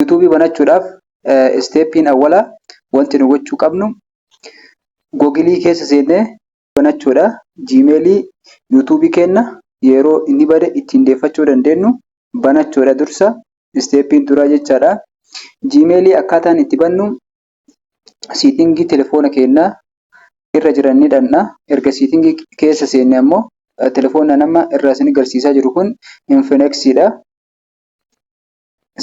Yuutuubii banachuudhaaf isteeppiin awwalaa wanti nu gochuu qabnu googilii keessa seennee banachuudha. Jiimeelii yuutuubii keenya yeroo inni bade ittiin deeffachuu dandeenyu banachuudha dursa isteeppiin duraa jechaadha. Jiimeelii akkaataan itti bannu siitingii telefoona keennaa irra jiran ni dhanna erga siitingii keessa seenne ammoo telefoona nama irraa isin garsiisaa jiru kun infineksiidha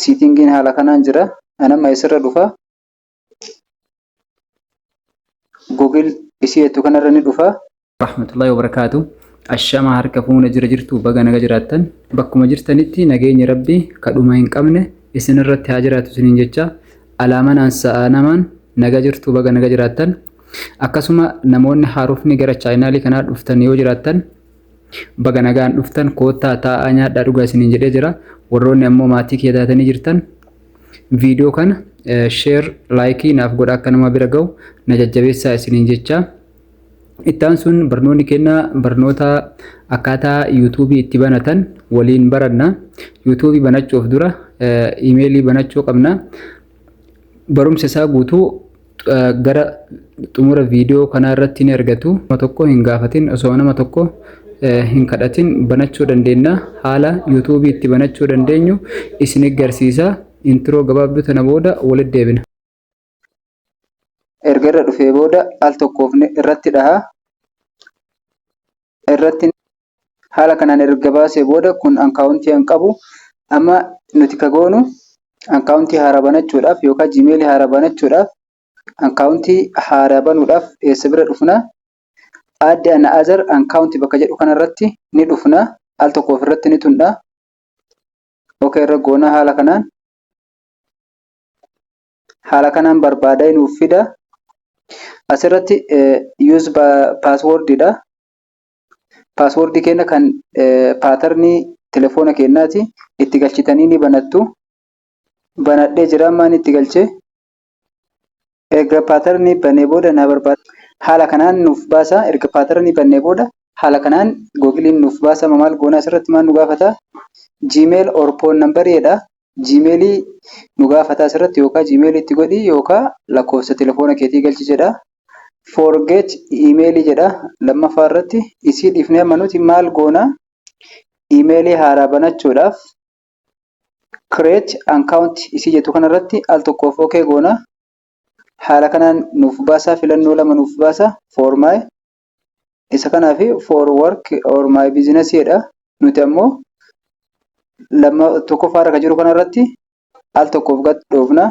siitingiin haala kanaan jira anamma isirra dhufa gogil isii ettu kanarra ni dhufa rahmatullahi wabarakaatu ashama harka fuuna jira jirtu baga naga jiraattan bakkuma jirtanitti nageenyi rabbi kadhuma hin qabne isin irratti haa jiraatu isiniin jecha alaamanaan sa'a namaan naga jirtu baga naga jiraattan akkasuma namoonni haarofni gara chaayinaalii kanaa dhuftan yoo jiraattan baga nagaan dhuftan koottaa taa'aa nyaadhaa dhugaa isiniin jedhee jira warroonni ammoo maatii kee taatanii jirtan viidiyoo kana sheer laayikii naaf godha akka nama bira ga'u na jajjabeessaa isiniin jechaa Itti aansuun barnoonni keenya barnoota akkaataa yuutuubii itti banatan waliin baranna. Yuutuubii banachuuf dura imeelii banachuu qabna. Barumsa isaa guutuu gara xumura viidiyoo kanaa irratti ni argatu. Nama tokko hin gaafatin osoo nama tokko hin kadhatin banachuu dandeenya. Haala yuutuubii itti banachuu dandeenyu isin garsiisa. Intiroo gabaabduu tana booda walitti deebina. erga irra dhufee booda al tokkoof irratti dhaha. Irratti haala kanaan erga baasee booda kun akkaawuntii hin qabu. Amma nuti ka goonu akkaawuntii haaraa banachuudhaaf yookaan jiimeelii haaraa banachuudhaaf akkaawuntii haaraa banuudhaaf eessa bira dhufna? Aadde ana azar akkaawuntii bakka jedhu kanarratti ni dhufna. Al tokkoof irratti ni tundha. Oka irra goona haala kanaan. haala kanaan barbaada nuuf fida. Asirratti use password dha. Password keenya kan paatarnii telefoona keenyaati. Itti galchitanii ni banattu. Banadhee jira ammaan itti galche. Erga paatarnii bannee booda na barbaada. Haala kanaan nuuf baasa. Erga paatarnii bannee booda haala kanaan googiliin nuuf baasa. Maal goona asirratti maal nu gaafata? Gmail or phone number jedha. Gmail nu gaafataa asirratti yookaa Gmail itti godhii yookaa lakkoofsa telefoona keetii galchi jedha. Forget email jedha lammaffaa irratti isii dhiifnee amma nuti maal goona email haaraa banachuudhaaf create account isii jettu kanarratti al tokkoof ok goona. Haala kanaan nuuf baasaa filannoo lama nuuf baasa for my Isa kanaaf for work or my business jedha. Nuti ammoo lama tokkoffaa irra kan jiru kanarratti al tokkoof gad dhoofna.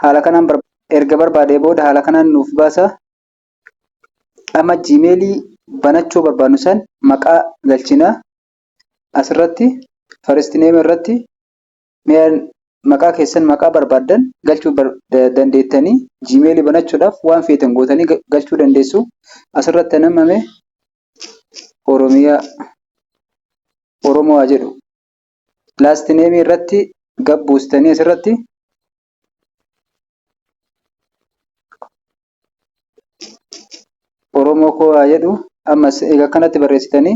Haala kanaan erga barbaadee booda haala kanaan nuuf baasa. Amma jiimeelii banachuu barbaadnu san maqaa galchina. Asirratti first name irratti Mee maqaa keessan maqaa barbaaddan galchuu dandeettanii jiimeelii banachuudhaaf waan feetan gootanii galchuu dandeessu. Asirratti namame Oromiyaa Oromoo haa jedhu. Laast neemii irratti gabbuustanii asirratti Oromoo koo haa jedhu ammas egaa kanatti barreessitanii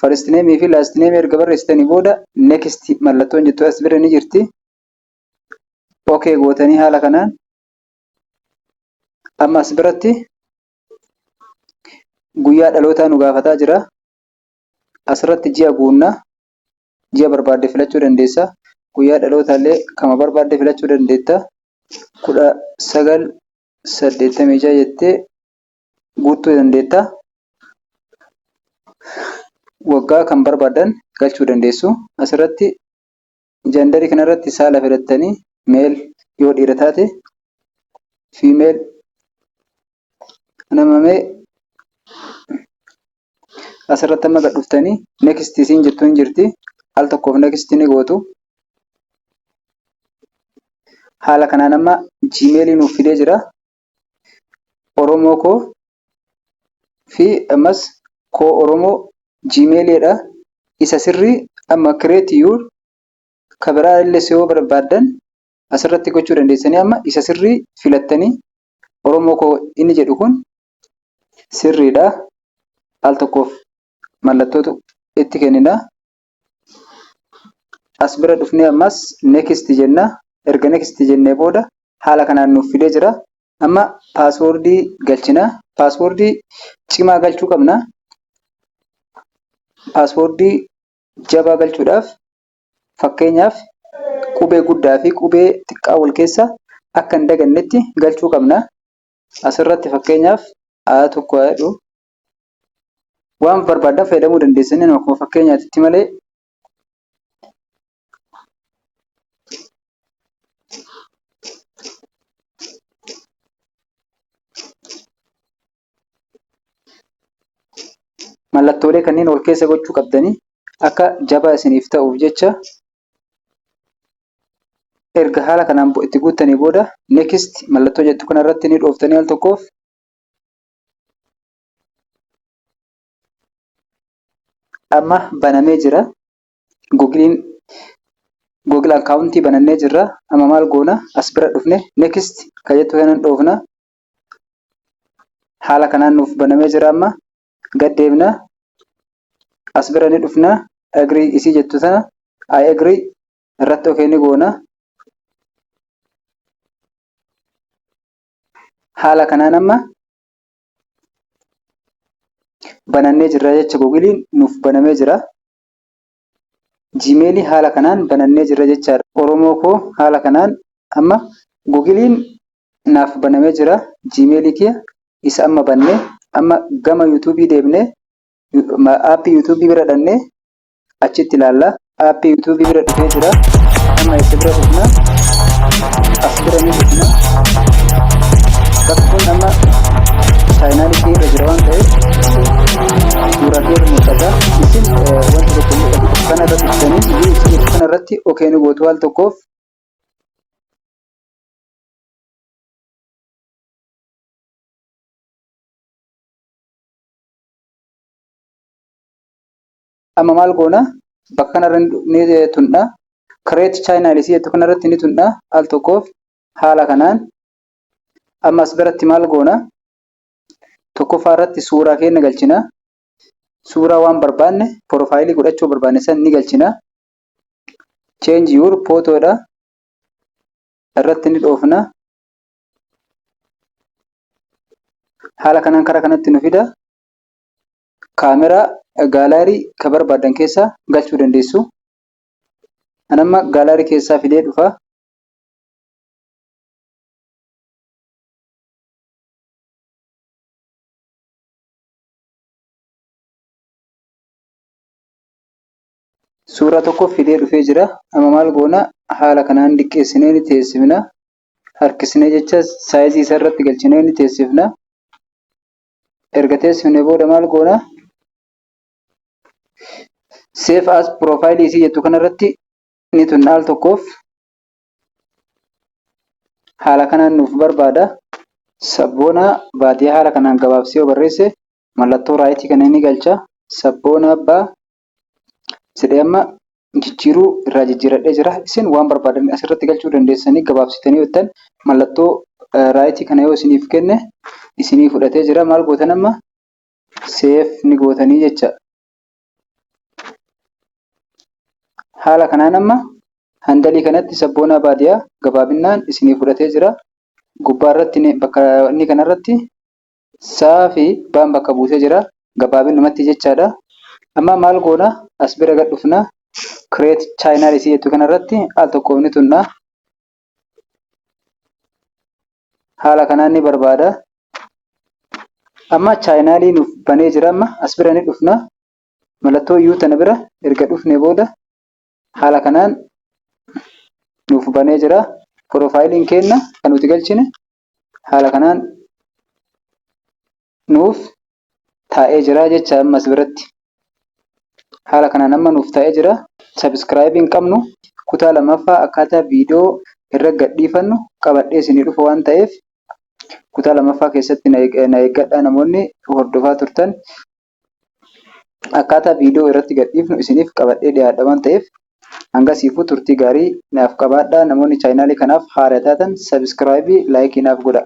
first name fi last name erga barreessitanii booda next mallattoon jettu as bira ni jirti. OK gootanii haala kanaan amma as biratti guyyaa dhalootaa nu gaafataa jira. Asirratti ji'a guunna. Ji'a barbaadde filachuu dandeessa. Guyyaa dhalootaallee kama barbaadde filachuu dandeetta. kudha sagal saddeettamii ja'a jettee guuttuu dandeetta. Waggaa kan barbaadan galchuu dandeessu. Asirratti jandarii kanarratti saala filattanii meel yoo dhiira taate fiimeel nama mee asirratti amma gad dhuftanii next isiin jettu hin jirti al tokkoof next ni gootu haala kanaan amma jiimeelii nuuf fidee jira oromoo koo fi ammas koo oromoo jiimeeliidha isa sirrii amma create your ka biraa illee yoo barbaaddan asirratti gochuu dandeessanii amma isa sirrii filattanii oromoo koo inni jedhu kun sirriidha. Al tokkoof mallattootu itti kennina. As bira dhufnee ammas next jenna. Erga next jennee booda haala kanaan nuuf fidee jira. Amma paaswoordii galchina. Paaswoordii cimaa galchuu qabna. Paaswoordii jabaa galchuudhaaf fakkeenyaaf qubee guddaa fi qubee xiqqaa wal keessa akka hin dagannetti galchuu qabna. Asirratti fakkeenyaaf aayaa tokko haa jedhu. Waan barbaaddan fayyadamuu dandeessanii akkuma fakkeenyaatitti malee mallattoolee kanneen wal keessa gochuu qabdanii akka jabaa isiniif ta'uuf jecha Erga haala kanaan itti guuttanii booda next mallattoo jettu kana irratti ni dhooftanii al tokkoof amma banamee jira. Googiliin Google akkaawuntii banannee jirra. Amma maal goona as bira dhufne next kan jettu kana dhoofna. Haala kanaan nuuf banamee jira amma. gad deemna as bira ni dhufna agree isii jettu sana I agree irratti okee ni goona haala kanaan amma banannee jirra jecha gogiliin nuuf banamee jira Jiimeelii haala kanaan banannee jirra jechaadha. Oromoo koo haala kanaan amma gugiliin naaf banamee jira. Jiimeelii kiyya isa amma bannee amma gama yuutuubii deebinee aappii yuutuubii bira dhannee achitti ilaalla. Aappii yuutuubii bira dhufee jira. Amma isa bira dhufna. As bira ni dhufna. Bakka kun amma chaayinaalii kee irra jira waan ta'eef Suuraa kee mul'ata. Isin wanta tokko mul'atu kana irratti ibsanii iyyuu ibsaniif kana irratti okee ni gootu al tokkoof. Amma maal goona? Bakka kanarra ni tundha. Create channel isii jettu kanarratti ni tundha al tokkoof haala kanaan. Amma as biratti maal goona? Tokkoffaa irratti suuraa keenya galchina. Suuraa waan barbaanne piroofaayilii godhachuu barbaanne san ni galchina. Change your photo dha. Irratti ni dhoofna. Haala kanaan karaa kanatti nu fida. Kaameraa gaalaarii ka barbaadan keessaa galchuu dandeessu. An amma gaalaarii keessaa fidee dhufa. Suura tokko fidee dhufee jira. Amma maal goona? Haala kanaan diqqeessinee ni teessifna. Harkisnee jecha saayizii isa irratti galchinee ni teessifna. Erga teessifne booda maal goona? Seef as piroofaayilii isii jettu kanarratti ni tunna al tokkoof. haala kanaan nuuf barbaada. Sabboona baadiyyaa haala kanaan gabaabsee yoo barreesse mallattoo raayitii kana ni galcha. Sabboona abbaa jedhee amma jijjiiruu irraa jijjiiradhee jira. Isin waan barbaadan asirratti galchuu dandeessanii gabaabsitanii hojjetan mallattoo raayitii kana yoo isiniif kenne isinii fudhatee jira. Maal gootan amma seef ni gootanii jecha. Haala kanaan amma handalii kanatti sabboonaa baadiyaa gabaabinaan isinii fudhatee jira. Gubbaa irratti bakka inni kana irratti saa fi baan bakka buusee jira. Gabaabinumatti jechaadha. Amma maal goona as bira gad dhufna. Create channel isii jettu kana irratti al tokkoof ni tunna. haala kanaan ni barbaada amma chaayinaalii nuuf banee jira amma as bira ni dhufna mallattoo yuu tana bira erga dhufne booda haala kanaan nuuf banee jira piroofaayiliin keenna kan nuti galchine haala kanaan nuuf taa'ee jira jecha amma as biratti haala kanaan amma nuuf taa'ee jira subscribe hin qabnu kutaa lamaffaa akkaataa viidiyoo irra gadhiifannu qabadhee isinii dhufa waan ta'eef kutaa lamaffaa keessatti na eeg- na eeggadhaa namoonni hordofaa turtan akkaataa viidiyoo irratti gadhiifnu isiniif qabadhee dhiyaadha waan ta'eef Hangasiifuu turtii gaarii naaf qabaadhaa namoonni chaayinaalii kanaaf haara taatan subscribe fi like naaf godhaa.